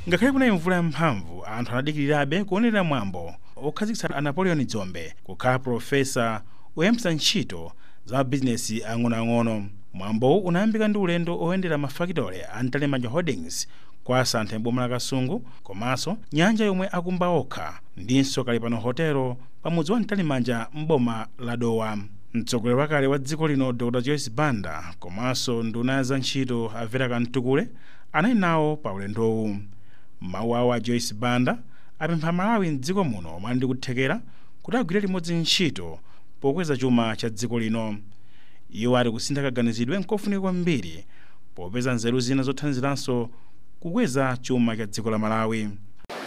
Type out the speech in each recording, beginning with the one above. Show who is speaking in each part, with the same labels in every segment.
Speaker 1: ngakhale kunali mvula yamphamvu anthu anadikirirabe kuonerera mwambo okhazikitsa a napoleon dzombe kukhala profesa oyambitsa ntchito za mabizinesi ang'onoang'ono mwambowu unayambika ndi ulendo oyendera mafakitole a mtalimanja holdings kwa Santhe m'boma la Kasungu komaso nyanja yomwe akumba okha ndinso Kalipano Hotel pa mudzi wa Mtalimanja m'boma la Dowa. Mtsogoleri wakale wa dziko lino Dr Joyce Banda komaso nduna ya za ntchito a Vera Kamtukule anali nawo pa ulendowu. M'mawu awo a Joyce Banda apempha aMalawi m'dziko muno omwe ali ndi kuthekera kuti agwire limodzi ntchito pokweza chuma cha dziko lino. Iwo ati kusintha kaganizidwe nkofunika kwambiri popeza nzeru zina zothandiziranso kukweza chuma cha dziko la Malawi.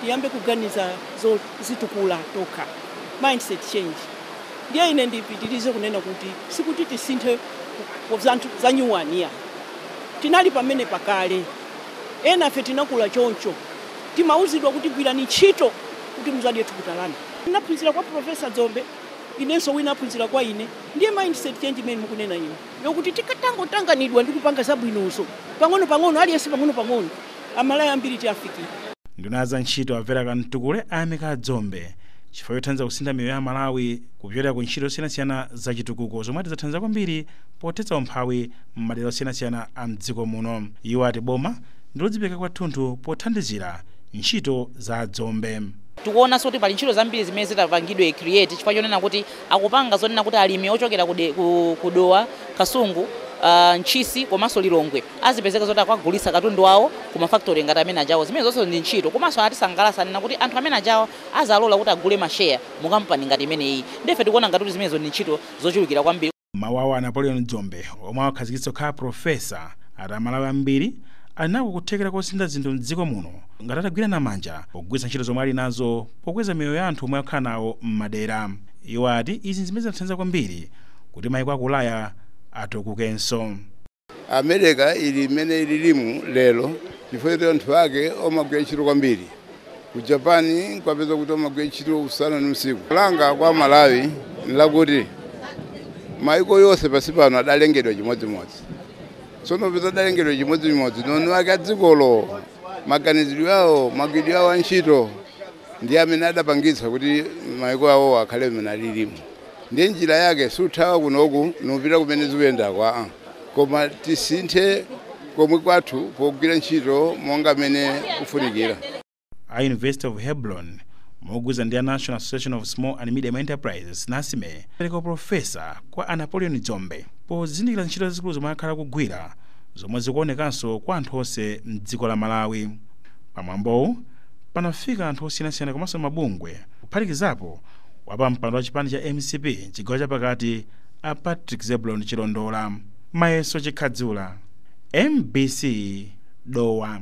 Speaker 1: tiyambe
Speaker 2: kuganiza zozitukula tokha, mindset change, ndiye ine ndipitilize kunena kuti sikuti tisinthe zinthu za nyuwani iyayi tinali pamenepa kale enafe tinakula choncho timauzidwa kuti gwirani ntchito kuti muzadye thukuta lanu ndinaphunzira kwa professor Dzombe inenso wina aphunzira kwa ine ndiye mindset change imene mukunena inu yokuti tikatangotanganidwa ndi kupanga zabwinozo pang'onopang'ono, aliyense pang'onopang'ono, Amalawi ambiri tiafikira. Nduna ya za
Speaker 1: ntchito a Vera Kamtukule ayamika a Dzombe chifukwa chothandiza kusintha miyoyo ya Amalawi kupyolera ku ntchito zosiyanasiyana za chitukuko zomwe ati zathandiza kwambiri pothetsa umphawi m'madera osiyanasiyana a m'dziko muno. Iwo ati boma ndi lodzipereka kwathunthu pothandizira ntchito za a Dzombe. Tikuonanso kuti pali
Speaker 3: ntchito zambiri zimene zitapangidwe create chifukwa chonena kuti akupanga zonena kuti alimi ochokera ku de, ku, ku Dowa, Kasungu, uh, Ntchisi komanso Lilongwe azipezeka zoti akwagulitsa katundu wawo ku mafactory ngati amene ajawa. Zimene zonse ndi ntchito komanso anatisangalatsa anena kuti anthu amene ajawa azalola kuti agule ma share mu kampani ngati imeneyi. Ndiye ife tikuona ngati kuti zimenezo ndi ntchito zochulukira kwambiri. M'mawu awo a
Speaker 1: Napoleon Dzombe omwe awakhazikitsa kukhala Professor ati Amalawi ambiri ali nako kuthekera kosintha zinthu m'dziko muno ngati atagwirana manja pogwiritsa ntchito zomwe ali nazo pokweza miyoyo ya anthu omwe akukhala nawo m'madera. Iwo ati izi n'zimene zinathandiza kwambiri kuti mayiko a ku Ulaya
Speaker 4: atukukenso. America ili mmene ililimu lero chifukwa choti anthu ake omagwira ntchito kwambiri. Ku Japan n'kwapeza kuti omagwira ntchito usana ndi usiku. Langa kwa Amalawi n'lakuti mayiko yonse pansi pano adalengedwa chimodzimodzi. Tsono popeza adalengedwa chimodzimodzi, ndi eni wake a dzikolo maganizidwe awo magwiridwe awo a ntchito ndi amene adapangitsa kuti maiko awo akhale mmene alilimo ndiye njira yake sikuthawa kunoku nkupita kumene zikuyendako a-a koma tisinthe komwe kwathu pogwira ntchito monga mmene kufunikira
Speaker 1: a university of hebron mogwirizana ndi a national association of small and medium enterprises nasme apereka uprofesa kwa a napoleon dzombe pozindikira ntchito zazikulu zomwe akhala akugwira zomwe zikuonekanso kwa anthu onse m'dziko la Malawi. Pa mwambowu panafika anthu osiyanasiyana komanso mabungwe kuphatikizapo wapampando wa chipani cha mcp m'chigawo chapakati a Patrick Zebulon Chilondola. Mayeso Chikhadzula, mbc, Dowa.